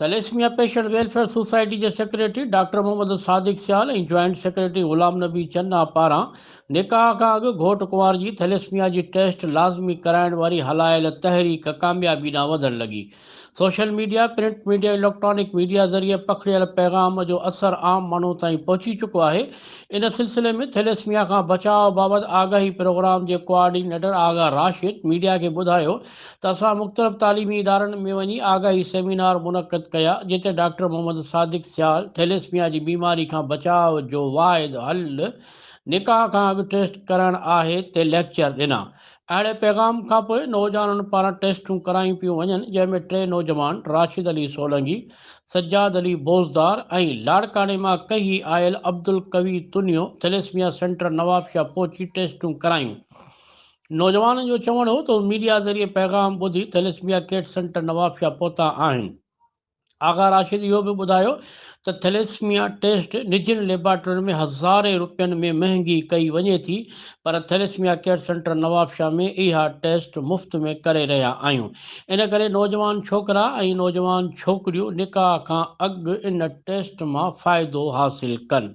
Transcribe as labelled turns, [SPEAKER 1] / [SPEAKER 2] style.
[SPEAKER 1] Thalassaemia patient welfare society جي secretary doctor Muhammad Sadiq Sial ۽ joint secretary Ghulam Nabi Channa پاران نڪاح کان اڳ گهوٽ ڪنوار جي ٿيليسميا جي ٽيسٽ لازمي ڪرائڻ واري هلايل تحريڪ ڪاميابي ڏانهن وڌڻ لڳي social media, print media, electronic media ذريعي پکڙيل پيغام جو اثر عام ماڻهو تائين پهچي چڪو آهي، ان سلسلي ۾ ٿيليسميا کان بچاء بابت آگاهي پروگرام جي ڪوآرڊينيٽر آغا راشد ميڊيا کي ٻڌايو ته اسان مختلف تعليمي ادارن ۾ وڃي آگاهي سيمينار منعقد ڪيا جتي ڊاڪٽر محمد صادق سيال ٿيليسميا جي بيماري کان بچاء جو واحد حل نڪاح کان اڳ ٽيسٽ ڪرائڻ آهي تي ليڪچر ڏنا اهڙي پيغام کانپوء نوجوانن پاران ٽيسٽون ڪرايون پيون وڃن جنهن ۾ ٽي نوجوان راشد علي سولنگي، سجاد علي بوزدار ۽ لاڙڪاڻي مان ڪهي آيل عبدالقوي تنيو ٿيليسميا سينٽر نوابشاهه پهچي ٽيسٽون ڪرايون. نوجوانن جو چوڻ هو ته هو ميڊيا ذريعي پيغام ٻڌي ٿيليسميا ڪيٽ سينٽر نوابشاهه پهتا آهن. آغا راشد اهو به ٻڌايو ته ٿيليسميا ٽيسٽ نجين ليبارٽرين ۾ هزارين روپين ۾ مهنگي ڪئي وڃي ٿي پر ٿيليسميا ڪيئر سينٽر نوابشاهه ۾ اها ٽيسٽ مفت ۾ ڪري رهيا آهيون ان ڪري نوجوان ڇوڪرا ۽ نوجوان ڇوڪريون نڪاح کان اڳ ان ٽيسٽ مان فائدو حاصل ڪن.